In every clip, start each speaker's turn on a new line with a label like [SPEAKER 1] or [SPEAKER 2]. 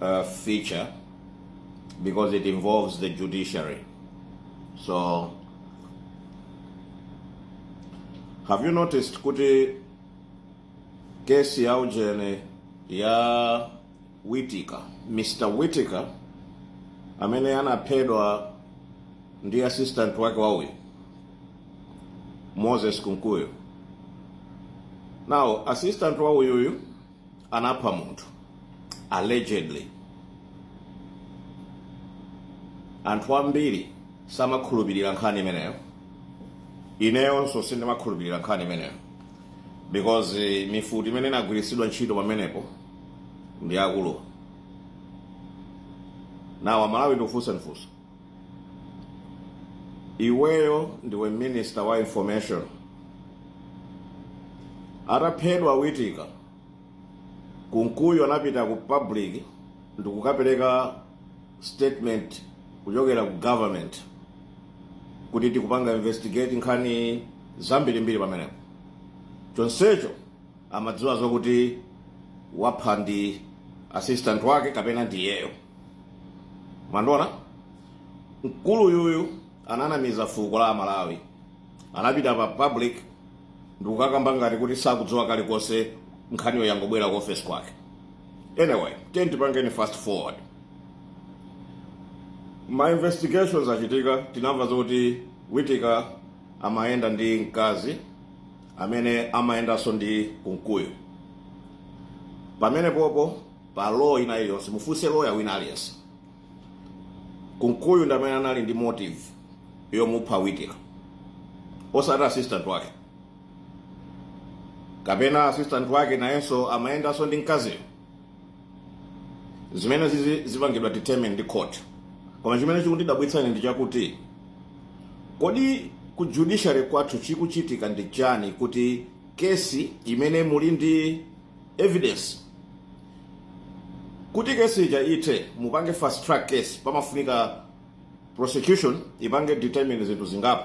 [SPEAKER 1] uh, feature because it involves the judiciary. So, have you noticed kuti kesi ya ujene ya Witika, Mr. Witika amene anaphedwa ndi assistant wake wauyu Moses Kunkuyu. Now, assistant wauyuyu anapha munthu allegedly anthu ambiri samakhulupirira nkhani imeneyo ineyonso sindimakhulupirira nkhani imeneyo because eh, mifuti imene inagwiritsidwa ntchito pamenepo ndi akuluwa Now amalawi ndikufunsa ndifunsa Iweyo ndiwe minister wa information. Ataphedwa Witika, Kunkuyu anapita ku public ndikukapereka statement kuchokera ku government kuti tikupanga investigate nkhani zambirimbiri pamenepo. Chonsecho amadziwa zokuti wapha ndi assistant wake kapena ndi iyeyo mwandiona mkulu yuyu ananamiza fuko la amalawi anapita pa public ndikukakamba ngati kuti sakudziwa kalikonse nkhaniyo yangobwera ku office kwake anyway tiye tipangeni fast forward ma investigations achitika tinamva zoti witika amayenda ndi mkazi amene amayendanso ndi kunkuyu pamene popo pa law ina iliyonse mufunse loya wina aliyense kunkuyu ndi amene anali ndi motive yomupha witika osati assistant wake kapena assistant wake nayenso amayendanso ndi mkaziyo zimene zizi zipangidwa determine ndi court koma chimene chikundidabwitsa ine ndi chakuti kodi ku judiciary kwathu chikuchitika ndi chani kuti kesi imene muli ndi evidence kuti kesi ija ithe mupange fast track case pamafunika prosecution ipange determine zinthu zingapo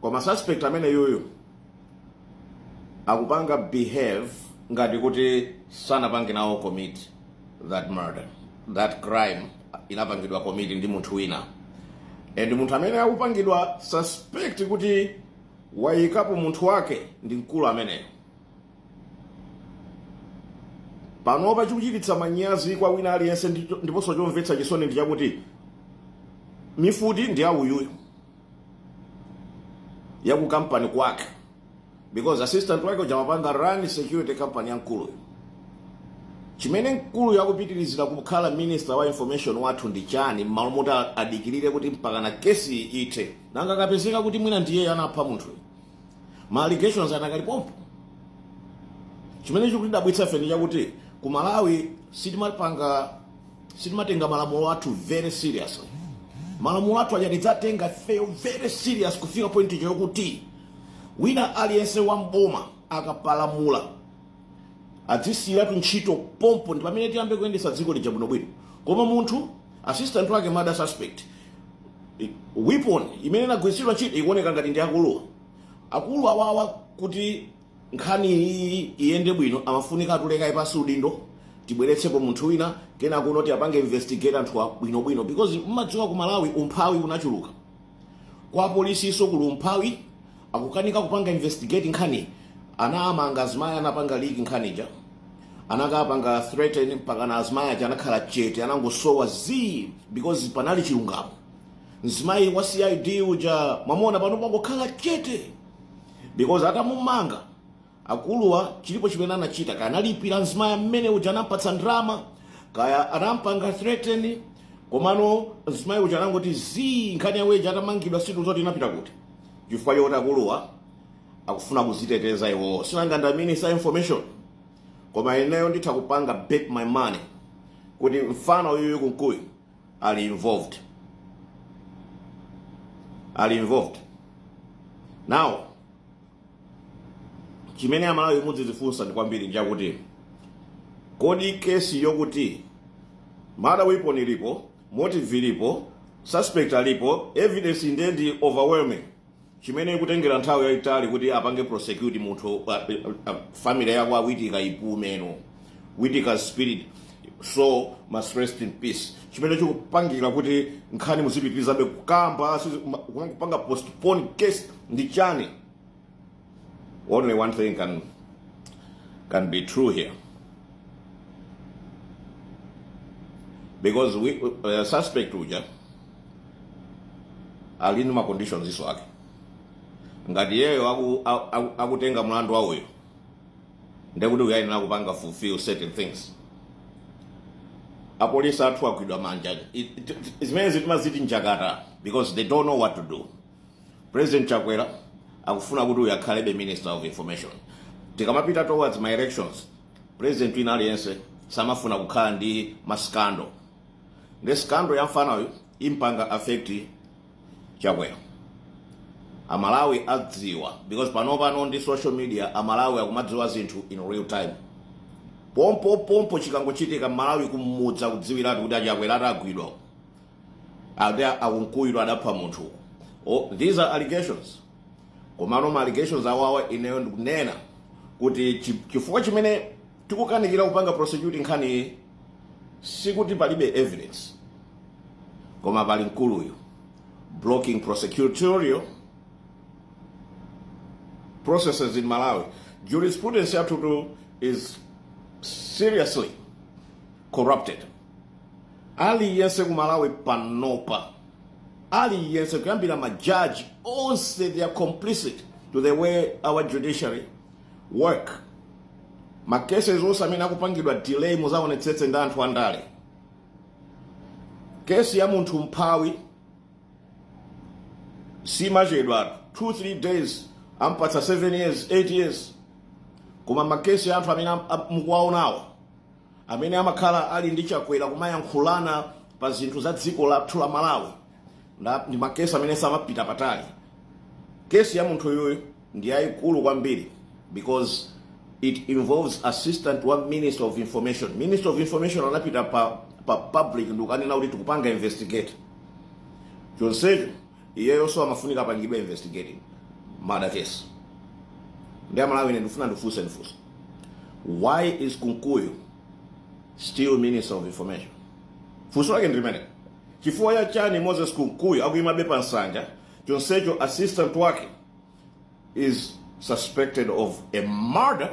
[SPEAKER 1] koma suspect amene yuyu akupanga behave ngati kuti sanapange nawo commit that murder that crime inapangidwa commit ndi munthu wina and munthu amene akupangidwa suspect kuti wayikapo munthu wake ndi mkulu ameneyo panopa chikuchititsa manyazi kwa wina aliyense ndiponso chomvetsa chisoni ndi chakuti mifuti ndi yauyuyu ya ku company kwake because assistant wake uja amapanga run security company ya mkuluyo chimene mkuluyo akupitirizira kukhala minister wa information wathu ndi chani mmalo moti a- adikirire kuti mpakana kesi ithe nanga akapezeka kuti mwina ndiye anapha munthuyo ma allegations anakali pompo chimene chikutidabwitsa ife nchakuti ku malawi sitimapanga sitimatenga malamulo athu very seriously malamulo athu aja tikadzatenga ifeyo very serious kufika point ija yokuti wina aliyense wa mboma akapalamula adzisiyiratu ntchito pompo ndi pamene tiyambe kuyendesa dziko lija bwinobwino koma munthu assistant wake murder suspect i- weapon imene inagwiritsidwa ntchito ikuoneka ngati ndi ya akuluwa akulu awawa kuti nkhani iyi iyende bwino amafunika atule kaye pansi udindo tibweretsepo munthu wina kenako tiapange investigate anthuwa bwinobwino because mmadziwa ku malawi umphawi unachuluka kwa polisiso kuli umphawi akukanika kupanga investigate nkhani anawamanga azimayi anapanga leak nkhani ija anakawapanga threaten mpaka na azimayi aja anakhala chete anangosowa zii because panali chilungamo mzimayi wa cid uja mwamona pano pangokhala chete because atamumanga akuluwa chilipo chimene anachita kaya analipira mzimayi amene uja anampatsa ndrama kaya anampanga threaten komano mzimayi uja anangoti zii nkhani yawo ija atamangidwa sitiva zoti inapita kuti chifukwa chokuti akuluwa akufuna kuziteteza iwowo sinanga ndi a minister wa information koma ineyo nditha kupanga bet my money kuti mfana uyuyu kunkuyu ali involved ali involved now chimene amalawi mudzizifunsa kwambiri nchakuti kodi kesi yokuti murder weapon ilipo motive ilipo suspect alipo evidence nde ndi overwhelming chimene ikutengera nthawi yayitali kuti apange prosecute munthu uh, uh, family yakwa Witika ipumeno witika spirit soul must rest in peace chimene chikupangira kuti nkhani muzipitirizabe kukamba kupanga postpone case ndi chani Only one thing can, can be true here. Because we, uh, suspect uja ali ndi maconditionsiso ake ngati iyeyo aku- aku- aku- akutenga mlandu wawuwo ndekuti uyu ayenera kupanga fulfill certain things apolisi athu agwidwa manja It- it- it- zimene zitimaziti njakata because they don't know what to do President Chakwera akufuna kuti uyu akhalebe Minister of Information. Tikamapita towards ma elections, President wina aliyense samafuna kukhala ndi maskando. Ndi skando ya mfana uyu impanga affect Chakwera. Amalawi adziwa because pano pano ndi social media Amalawi akumadziwa zinthu in real time. Pompo pompo chikangochitika Mmalawi kumudza kudziwiratu kuti achakwera agwidwa. akuti akunkuyu adapha munthu oh, these are allegations komano ma allegations awawa ineyo ndikunena kuti chifukwa chimene tikukanikira kupanga prosecute nkhani iyi sikuti palibe evidence koma pali mkuluyu blocking prosecutorial processes in malawi jurisprudence yathutu is seriously corrupted aliyense ku malawi panopa aliyense kuyambira majaji onse they are complicit to the way our judiciary work makeses onse amene akupangidwa delay muzaonetsetse ndi anthu andale kesi ya munthu mphawi simachedwa 2-3 days ampatsa 7 years 8 years koma makesi ya anthu amene am- am- mukuwaonawo amene amakhala ali ndi chakwera kumayankhulana pa zinthu za dziko lathu la malawi nda- ndi makesi amene samapita patali kesi ya munthu uyu ndi yayikulu kwambiri because it involves assistant wa minister of information minister of information anapita pa, pa public ndikukanena kuti tikupanga investigate chonsecho Iyeyonso amafunika apangidwe investigate murder case. Ndi amalawi ine ndifuna ndifunse funso. Why is Kunkuyu still Minister of Information? Funso lake ndi limeneli. Chifukwa cha chani Moses Kunkuyu akuimabe pa nsanja chonsecho assistant wake is suspected of a murder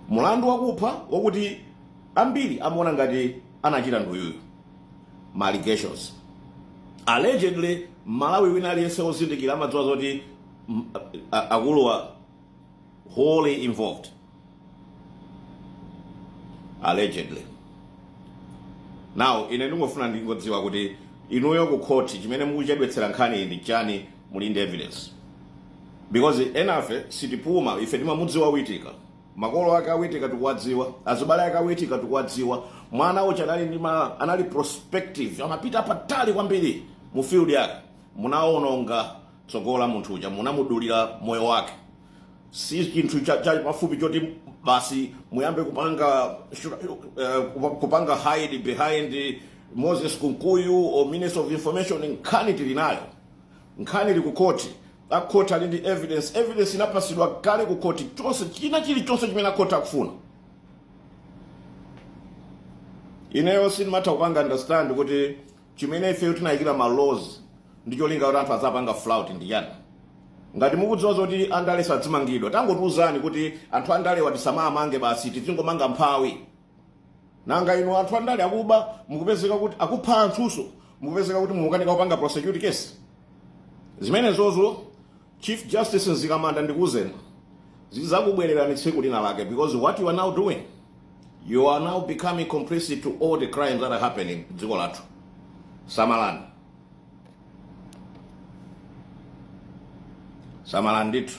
[SPEAKER 1] mulandu wakupha wakuti ambiri amaona ngati anachita nduyuyu ma allegations allegedly mmalawi wina aliyense wozindikira amadziwa zoti mm, a- a- akuluwa wholly involved allegedly now ine ndingofuna ndingodziwa kuti inuyo ku court chimene mukuchedwetsera nkhani ndi chani muli ndi evidence Because enafe sitipuma ife timamudziwa witika makolo ake awitika tikuwadziwa azibale ake awitika tikuwadziwa mwana uja anali ndi ma anali prospective amapita patali kwambiri mu field yake munaononga tsogolo la munthu uja munamudulira moyo wake si chinthu cha, cha pafupi choti basi muyambe kupanga uh, kupanga hide behind moses kunkuyu or minister of information nkhani tili nayo Nkhani ili ku court, a court ali ndi evidence, evidence inapasidwa kale ku court, china chilichonse chimene a court akufuna. Ineyo sindimatha kupanga understand kuti chimene ifeyo tinayikira ma laws ndi cholinga kuti anthu azapanga flout ndani. Ngati mukudziwa zoti andale sazimangidwa, tangotiuzani kuti anthu andalewa tisamamange basi, tizingomanga mphawi. nanga inu anthu andale akuba mukupezeka kuti akupha anthunso mukupezeka kuti mukukanika kupanga prosecute case zimenezozo chief justice Mzikamanda ndikuuzeni zizakubwererani tsiku lina lake because what you are now doing you are now becoming complicit to all the crimes that are happening dziko lathu samalani samalani ndithu